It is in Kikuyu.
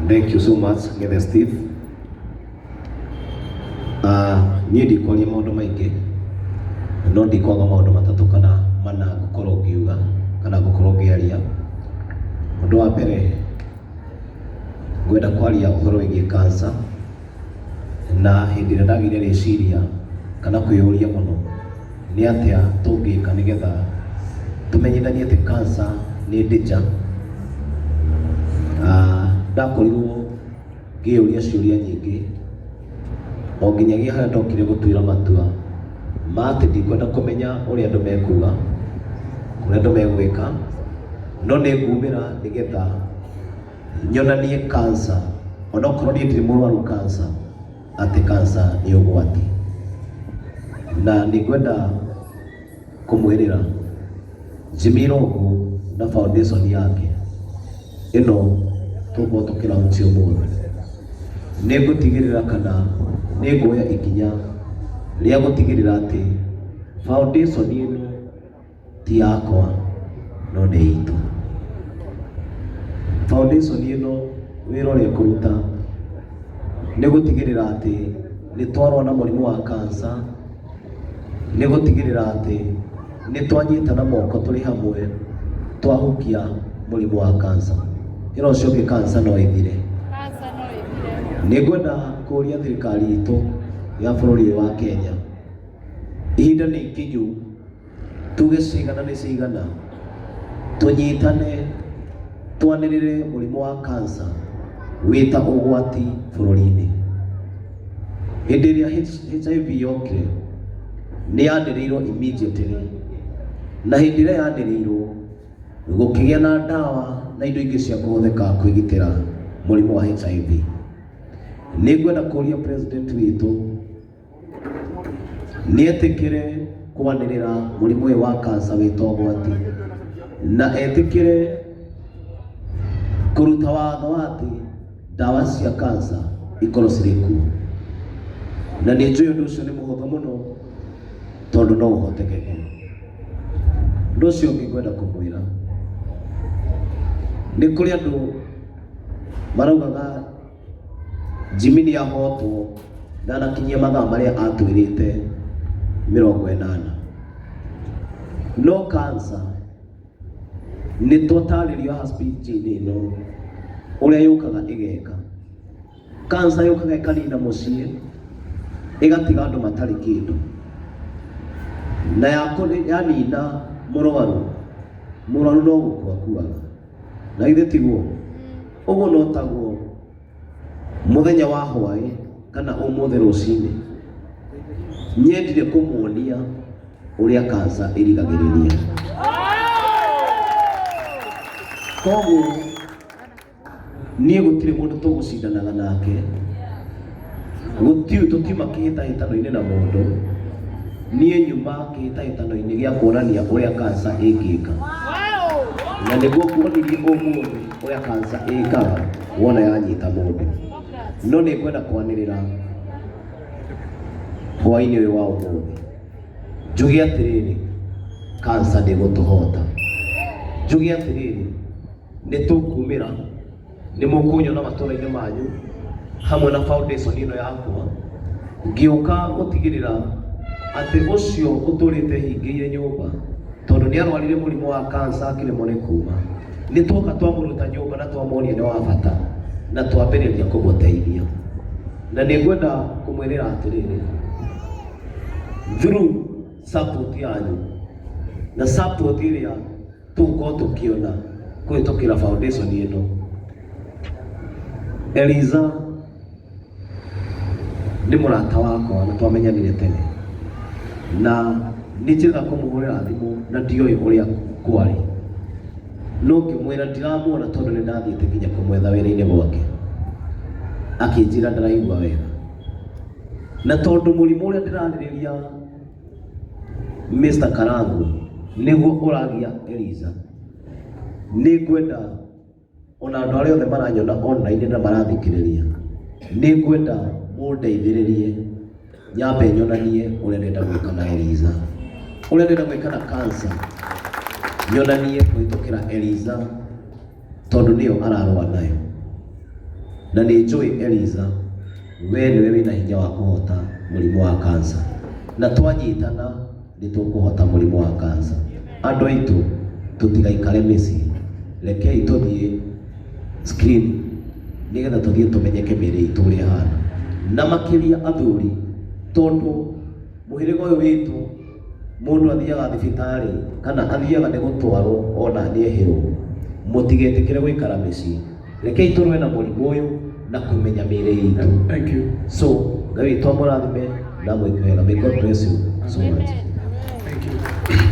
Thank you so much, Ngethe Steve. Uh, niĩ ndikwaria maũndũ maingĩ no ndikwaga maũndũ matatũ kana mana ngũkorwo ngiuga kana ngũkorwo ngĩaria. Ũndũ wa mbere ngwenda kwaria ũhoro wĩgiĩ cancer na hĩndĩ ĩrĩa ndagĩire rĩciria kana kwĩyũria mũno Nĩ atĩa tũngĩka nĩ getha tũmenyithanie atĩ kanca nĩ danger? Ndakorirwo ngĩyũria ciũria nyingĩ o nginyagia harĩa ndokire gũtuĩra matua ma atĩ ndikwenda kũmenya ũrĩa andũ mekuga, ũrĩa andũ megwĩka, no nĩ ngumĩra nĩ getha nyonanie kanca, onokorwo niĩ ndirĩ mũrwaru kanca. atĩ kansa nĩ ũgwati. Na nĩ ngwenda kũmwĩrĩra Jimmy Irũngũ na foundation yake ĩno tũgũkorwo tũkĩ launch ũmũthĩ, nĩ ngũtigĩrĩra kana nĩ nguoya ikinya rĩa gũtigĩrĩra atĩ foundation ĩno Ti yakwa no nĩ itũ. Foundation ĩno wĩra ũrĩa ĩkũruta nĩ gũtigĩrĩra atĩ nĩ twarũa na mũrimũ wa cancer, nĩ gũtigĩrĩra atĩ nĩ twanyitana moko tũrĩ hamwe twahukia mũrimũ wa cancer. Ĩra ũcio ũngĩ cancer no ĩthire. Nĩ ngwenda kũria thirikari itũ ya bũrũri ũyũ wa Kenya, ihinda nĩ ikinyu. tuge cigana nĩ cigana tũnyitane twanĩrĩre mũrimũ wa kansa wĩta ũgwati bũrũri-inĩ hĩndĩ ĩrĩa HIV yokire nĩ yanĩrĩirwo immediately na hĩndĩ ĩrĩa yanĩrĩirwo gũkĩgĩa na ndawa na indo ingĩ cia kũhũthĩka kwĩgitĩra mũrimũ wa HIV nĩ ngwenda kũria president witũ nĩetĩkĩre kwanĩrĩra mũrimũ ũyũ wa kansa wĩ ta ũgwati na etĩkĩre kũruta watho wa atĩ ndawa cia kansa ikorwo cirĩ kuo na nĩ njũĩ ũndũ ũcio nĩ mũhũthũ mũno tondũ no ũhotekeke ũndũ ũcio ũngĩ ngwenda kũmwĩra nĩ kũrĩ andũ maraugaga Jimmy nĩ ahootwo ndanakinyia mathaa marĩa atwĩrĩte mĩrongo ĩnana. No cancer nĩ twatarĩrio haha speech-inĩ ĩno ũrĩa yũkaga ĩgeka. Cancer yũkaga ĩkanina mũciĩ, ĩgatiga andũ matarĩ kĩndũ. Na yanina mũrwaru, mũrwaru no gũkua akuaga. na ithe tiguo ũguo no taguo mũthenya wa hwaĩ kana ũmũthĩ rũcinĩ nyendire kũmuonia ũrĩa kansa ĩrigagĩrĩria koguo niĩ gũtirĩ mũndũ tũgũcindanaga nake Gũtirĩ tũkiuma kĩhĩtahĩtano-inĩ na mũndũ, niĩ nyuma kĩhĩtahĩtano-inĩ gĩa kuonania ũrĩa kansa ĩngĩka. Na nĩguo kuonirie ũmũthĩ ũrĩa kansa ĩkaga wona yanyita mũndũ. No nĩ ngwenda kwanĩrĩra hwaĩ-inĩ ũyũ wa ũmũthĩ njuge atĩrĩrĩ, kansa ndĩgũtũhota. Njuge atĩrĩrĩ, nĩ tũkumĩra nĩ mũkũnyona matũra-inĩ manyu hamwe na foundation ĩno yakwa ngĩũka gũtigĩrĩra atĩ ũcio ũtũrĩte hingĩire nyũmba tondũ nĩ arwarire mũrimũ wa kansa akĩremwo nĩ kuuma nĩ twoka twamũruta nyũmba na twamuonia nĩ wa bata na twambĩrĩria kũmũteithia na nĩ ngwenda kũmwĩrĩra atĩrĩrĩ through support yanyu na support ĩrĩa Tũgũkorwo tũkĩona kũhĩtũkĩra foundation ĩno, Eliza nĩ mũrata wakwa na twamenyanire tene, na nĩ njĩrĩga kũmũhũrĩra thimũ na ndioĩ ũrĩa kwarĩ, no ngĩmwĩra ndiramuona tondũ nĩ ndathiĩte nginya kũmwetha wĩra-inĩ gwake, akĩnjĩra ndaraigua wega, na tondũ mũrimũ ũrĩa ndĩrarĩrĩria Mr. Karangũ, nĩguo ũragia Eliza, nĩ ngwenda ona andũ arĩa othe maranyona online na marathikĩrĩria, nĩ ngwenda mũndeithĩrĩrie nyambe nyonanie ũrĩa ndĩrenda gwĩka na Eliza, ũrĩa ndĩrenda gwĩka na cancer, nyonanie kũhĩtũkĩra Eliza. tondũ nĩyo ararũa nayo. Na nĩ njũĩ Eliza, we nĩwe wĩna hinya wa kũhota mũrimũ wa kansa, na twanyitana nĩ tũkũhota mũrimũ wa kansa. Andũ aitũ tũtigaikare mĩciĩ, rekei tũthiĩ screen nĩgetha tũthiĩ tũmenyeke mĩĩrĩ itũ ũrĩa ĩhana, na makĩria athuri tondũ... Mũhĩrĩga ũyũ witũ mũndũ athiaga thibitarĩ kana athiaga nĩ gũtwarwo ona nĩehĩrwo. Mũtigetĩkĩre gũikara mĩciĩ. Rekei tũrũe na mũrimũ ũyũ na kũmenya mĩĩrĩ itũ. Thank you. So, Ngai witũ amũrathime na amwĩke wega. May God bless you so much. Thank you.